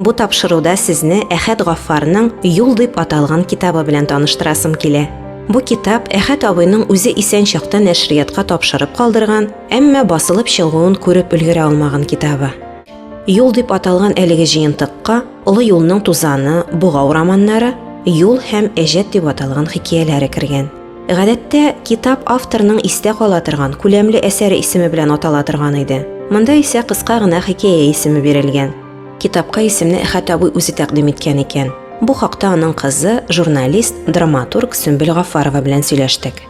Бу тапшыруда сезне Әхәт Гаффарның Юл дип аталган китабы белән таныштырасым килә. Бу китап Әхәт абыйның үзе исән чакта нәшриятка тапшырып калдырган, әмма басылып чыгуын күреп өлгерә алмаган китабы. Юл дип аталган әлеге җыентыкка Олы юлның тузаны, Богау романнары, Юл һәм Әҗәт дип аталган хикәяләре кергән. Гадәттә китап авторның истә кала торган күләмле әсәре исеме белән атала торган иде. Монда исә кыска гына хикәя исеме бирелгән. Китапка исемне Әхәт абый үзе тәкъдим иткән икән. Бу хакта аның кызы, журналист, драматург Сөмбел Гафарова белән сөйләштек.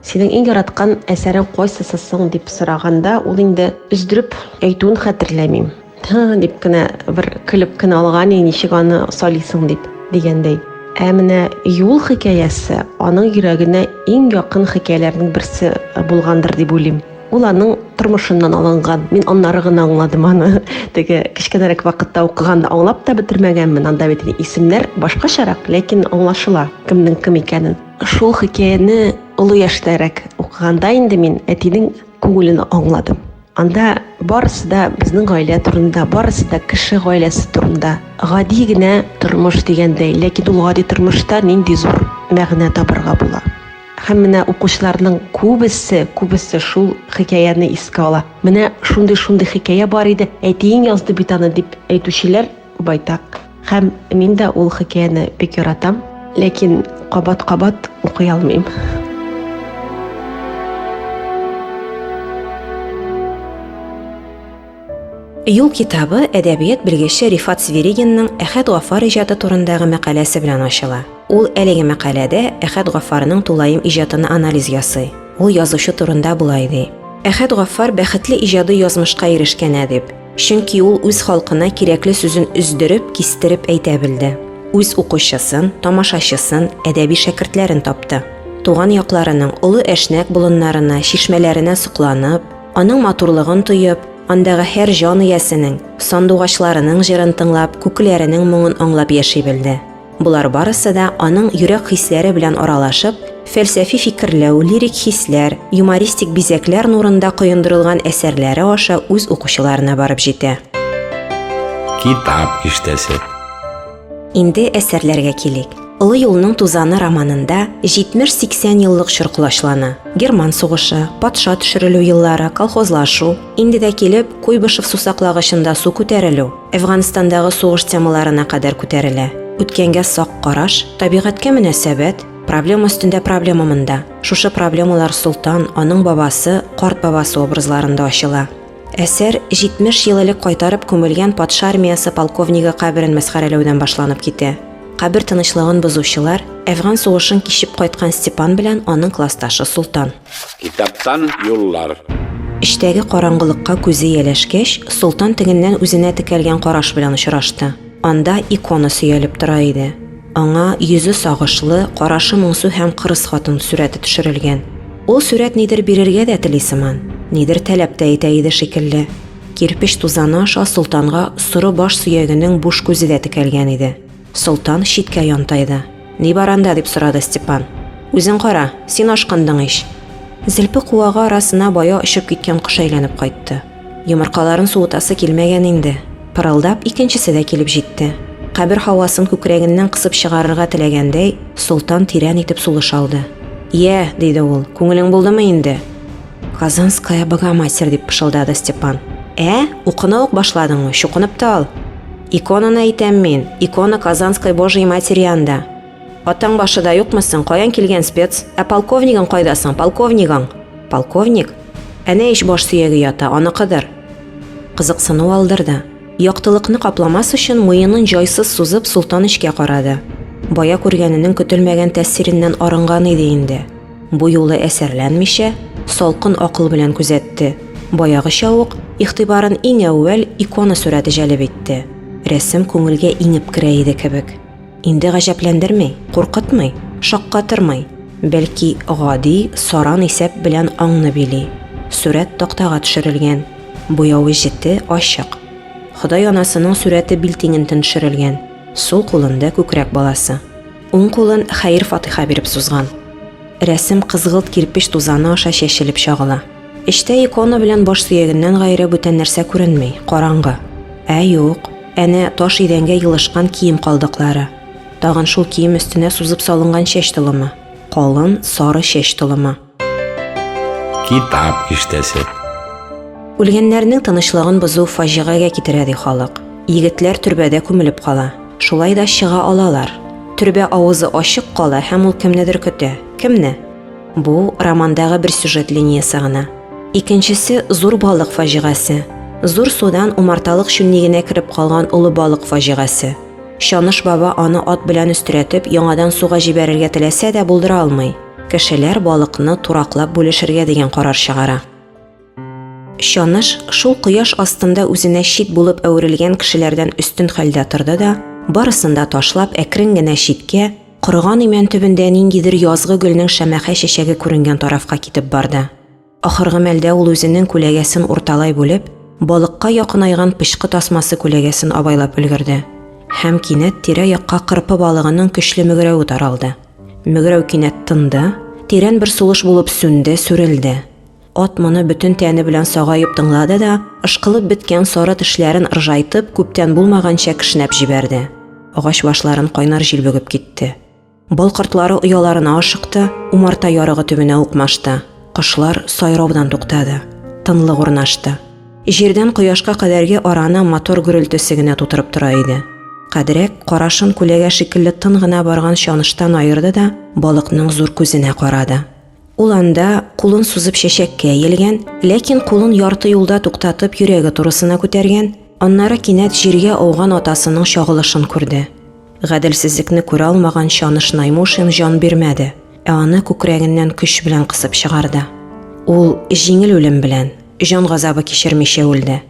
Синең иң яраткан әсәрең кайсысы соң дип сораганда, ул инде өздереп әйтүен хәтерләмим. Һы, дип кенә бер көлеп кенә алган, ничек аны салисың дип дигәндәй. Ә менә Юл хикәясе аның йөрәгенә иң якын хикәяләрнең берсе булгандыр дип уйлыйм. Ул аның тормышыннан алынган. Мин аннары гына аңладым аны. Теге кечкенәрәк вакытта укыганда аңлап та бетермәгәнмен. Анда бит исемнәр башкачарак, ләкин аңлашыла кемнең кем икәнен. Шул хикәяне олы яшьтәрәк укыганда инде мин әтинең күңелен аңладым. Анда барысы да безнең гаилә турында, барысы да кеше гаиләсе турында. Гади генә тормыш дигәндәй, ләкин ул гади тормышта нинди зур мәгънә табарга була. Һәм менә укучыларның күбесе, күбесе шул хикәяне искә ала. Менә шундый-шундый хикәя бар иде, әтиең язды бит аны, дип әйтүчеләр байтак. Һәм мин дә ул хикәяне бик яратам, ләкин кабат-кабат укый алмыйм. Юл китабы әдәбият белгече Рифат Сверигинның Әхәт Гафар иҗаты турындагы мәкаләсе белән ачыла. Ул әлеге мәкаләдә Әхәт Гафарның тулаем иҗатын анализ ясый. Ул язучы турында болай ди. Әхәт Гафар бәхетле иҗади язмышка ирешкән әдип. Чөнки ул үз халкына кирәкле сүзен өздереп, кистереп әйтә белде. Үз укучысын, тамашачысын, әдәби шәкертләрен тапты. Туган якларының олы әшнәк болыннарына, чишмәләренә сокланып, Аның матурлыгын тоеп, андагы һәр җан иясенең, сандугачларының җырын тыңлап, күкләренең моңын аңлап яши белде. Болар барысы да аның йөрәк хисләре белән аралашып, фәлсәфи фикерләү, лирик хисләр, юмористик бизәкләр нурында коендырылган әсәрләре аша үз укучыларына барып җитә. Китап иштәсе. Инде әсәрләргә килик. Олы юлның тузаны романында 70-80 еллык чор колачлана. Герман сугышы, патша төшерелү еллары, колхозлашу, инде дә килеп, Куйбышев сусаклагычында су күтәрелү, Әфганстандагы сугыш темаларына кадәр күтәрелә. Үткәнгә сак караш, табигатькә мөнәсәбәт, проблема өстендә проблема монда. Шушы проблемалар Солтан, аның бабасы, карт бабасы образларында ачыла. Әсәр 70 ел элек кайтарып күмелгән патша армиясе полковнигы каберен мәсхәрәләүдән башланып китә. Кабер тынычлыгын бозучылар Әфган сугышын кичеп кайткан Степан белән аның классташы Султан. Китаптан юллар. Эчтәге караңгылыкка күзе ияләшкәч, Султан тегеннән үзенә текәлгән караш белән очрашты. Анда икона сөялеп тора иде. Аңа йөзе сагышлы, карашы моңсу һәм кырыс хатын сурәте төшерелгән. Ул сурәт нидер бирергә дә тели сыман, нидер таләп тә итә иде шикелле. Кирпеч тузаны аша солтанга соры баш сөягенең буш күзе дә текәлгән иде. Солтан читкә янтайды. Ни бар анда, дип сорады Степан. Үзең кара, син ашкындың ич. Зелпе куагы арасына бая очып киткән кош әйләнеп кайтты. Йомыркаларын суытасы килмәгән инде. Пырылдап, икенчесе дә килеп җитте. Кабер һавасын күкрәгеннән кысып чыгарырга теләгәндәй, Солтан тирән итеп сулыш алды. Йә, диде ул, күңелең булдымы инде? Казанская Богоматерь, дип пышылдады Степан. Ә, укына ук башладыңмы, чукынып та ал. Иконаны әйтәм мин, икона Казанской Божьей Матери анда. Атаң башы да юкмы соң, каян килгән спец? Ә полковнигың кайда соң, полковнигың? Полковник? Әнә ич баш сөяге ята, аныкыдыр. Кызыксыну алдырды. Яктылыкны капламас өчен муенын җайсыз сузып, Солтан эчкә карады. Бая күргәненең көтелмәгән тәэсиреннән арынган иде инде. Бу юлы әсәрләнмичә, салкын акыл белән күзәтте. Баягыча ук, игътибарын иң әүвәл икона сурәте җәлеп итте. Рәсем күңелгә иңеп керә иде кебек. Инде гаҗәпләндерми, куркытмый, шаккатырмый, бәлки гади саран исәп белән аңны били. Сурәт тактага төшерелгән, буявы җете ачык. Ходай анасының сурәте билтиңентен төшерелгән, сул кулында күкрәк баласы. Уң кулын хәер фатыйха биреп сузган. Рәсем кызгылт кирпеч тузаны аша чәчелеп чагыла. Эчтә икона белән баш сөягеннән гайре бүтән нәрсә күренми, караңгы. Ә юк, әнә таш идәнгә елышкан кием калдыклары. Тагын шул кием өстенә сузып салынган чәч толымы. Калын, сары чәч толымы. Китап иштәсе. Үлгәннәрнең тынычлыгын бозу фаҗигагә китерә, ди халык. Егетләр төрбәдә күмелеп кала. Шулай да чыга алалар. Төрбә авызы ачык кала һәм ул кемнедер көтә. Кемне? Бу романдагы бер сюжет линиясе гына. Икенчесе зур балык фаҗигасе. Зур судан умарталык чүннегенә кереп калган олы балык фаҗигасе. Чаныш баба аны ат белән өстерәтеп яңадан суга җибәрергә теләсә дә булдыра алмый. Кешеләр балыкны тураклап бүлешергә дигән карар чыгара. Чаныш шул кояш астында үзенә чит булып әверелгән кешеләрдән өстен хәлдә торды да, барысын да ташлап, әкрен генә читкә, корыган имән төбендә ниндидер язгы гөлнең шәмәхә чәчәге күренгән тарафка китеп барды. Ахыргы мәлдә ул үзенең күләгәсен урталай бүлеп, балыкка якынайган пычкы тасмасы күләгәсен абайлап өлгерде. Һәм кинәт тирә-якка кырпы балыгының көчле мөгерәве таралды. Мөгерәү кинәт тынды, тирән бер сулыш булып сүнде, сүрелде. Ат моны бөтен тәне белән сагаеп тыңлады да, ышкылып беткән сары тешләрен ыржайтып, күптән булмаганча кешнәп җибәрде. Агач башларын кайнар җил бөгеп китте. Бал кортлары ояларына ашыкты, умарта ярыгы төбенә укмашты. Кошлар сайраудан туктады. Тынлык урнашты. Җирдән кояшка кадәрге араны мотор гөрелтесе генә тутырып тора иде. Кадрәк карашын күләгә шикелле тын гына барган чаныштан аерды да балыкның зур күзенә карады. Ул анда кулын сузып чәчәккә иелгән, ләкин кулын ярты юлда туктатып йөрәге турысына күтәргән, аннары кинәт җиргә ауган атасының чагылышын күрде. Гаделсезлекне күрә алмаган Чаныш Наймушин җан бирмәде, ә аны күкрәгеннән көч белән кысып чыгарды. Ул җиңел үлем белән, җан газабы кичермичә үлде.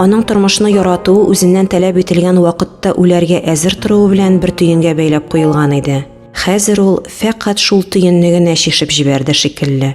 Аның тормышны яратуы үзеннән таләп ителгән вакытта үләргә әзер торуы белән бер төенгә бәйләп куелган иде. Хәзер ул фәкать шул төенне генә чишеп җибәрде шикелле.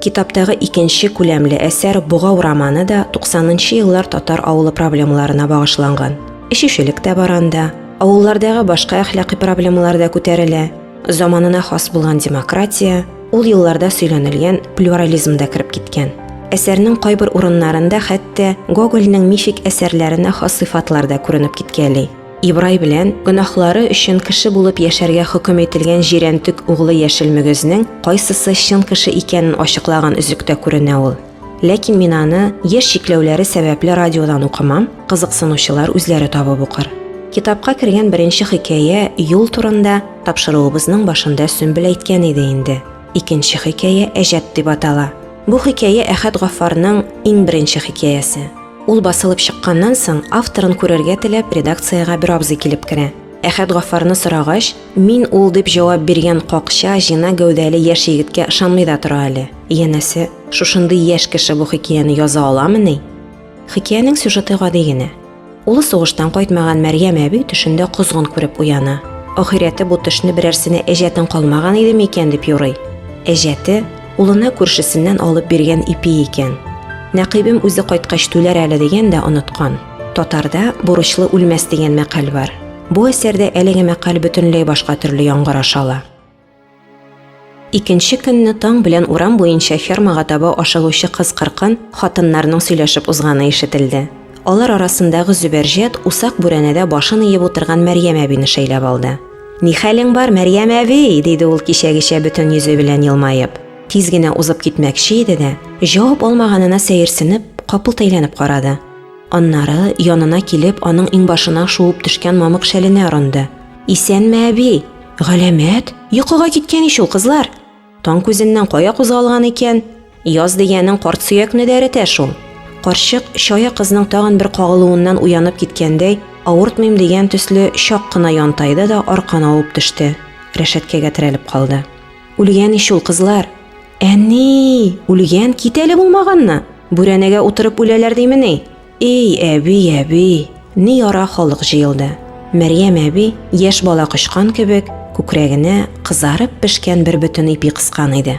Китаптагы икенче күләмле әсәр Богау романы да туксанынчы еллар татар авылы проблемаларына багышланган. Эчүчелек тә бар анда. Авыллардагы башка әхлакый проблемалар да күтәрелә. Заманына хас булган демократия ул елларда сөйләнелгән плюрализм да кереп киткән. Әсәрнең кайбер урыннарында хәтта Гогольнең мифик әсәрләренә хас сыйфатлар да күренеп киткәли. Ибрай белән гөнаһлары өчен кеше булып яшәргә хөкем ителгән җирәнтек углы яшел мөгезнең кайсысы чын кеше икәнен ачыклаган өзектә күренә ул. Ләкин мин аны яшь чикләүләре сәбәпле радиодан укымам, кызыксынучылар үзләре табып укыр. Китапка кергән беренче хикәя юл турында тапшыруыбызның башында Сөмбел әйткән иде инде. Икенче хикәя Әҗәт дип атала. Бу хикәя Әхәт Гаффарның иң беренче хикәясе. Ул басылып чыкканнан соң, авторын күрергә теләп, редакциягә бер абзый килеп керә. Әхәт Гаффарны сорагач, Мин ул дип җавап биргән какча, җына гәүдәле яшь егеткә ышанмый да тора әле. Янәсе, шушындый яшь кеше бу хикәяне яза аламыни? Хикәянең сюжеты гади генә. Улы сугыштан кайтмаган Мәрьям әби төшендә козгын күреп уяна. Ахирәте бу төшне берәрсенә әҗәтең калмаган иде микән дип юрый. Әҗәте улына күршесеннән алып биргән ипи икән. Нәкыйбем үзе кайткач түләр әле дигән дә оныткан. Татарда бурычлы үлмәс дигән мәкаль бар. Бу әсәрдә әлеге мәкаль бөтенләй башка төрле яңгыр ашала. Икенче көнне таң белән урам буенча фермага таба ашыгучы кыз кыркын хатыннарның сөйләшеп узганы ишетелде. Алар арасындагы Зөбәрҗәт усак бүрәнәдә башын иеп утырган Мәрьям әбине шәйләп алды. Ни хәлең бар, Мәрьям әби? диде ул кичәгечә бөтен йөзе белән елмаеп. Тиз генә узып китмәкче иде дә, җавап алмаганына сәерсенеп, капылт әйләнеп карады. Аннары янына килеп, аның иңбашына шуып төшкән мамык шәленә орынды. Исәнме, әби? Галәмәт? Йокыга киткән ич ул, кызлар. Таң күзеннән кая кузгалган икән? Яз дигәнең карт сөякне дә эретә шул. Карчык чая кызның тагын бер кагылуыннан уянып киткәндәй, авыртмыйм дигән төсле чак кына янтайды да аркан авып төште, рәшәткәгә терәлеп калды. Үлгән ич ул кызлар. Әни, үлгән, кит әле булмаганны. Бүрәнәгә утырып үләләр димени? Эй, әби, әби. Ни яра халык җыелды. Мәрьям әби, яшь бала кочкан кебек, күкрәгенә кызарып пешкән бер бөтен ипи кыскан иде.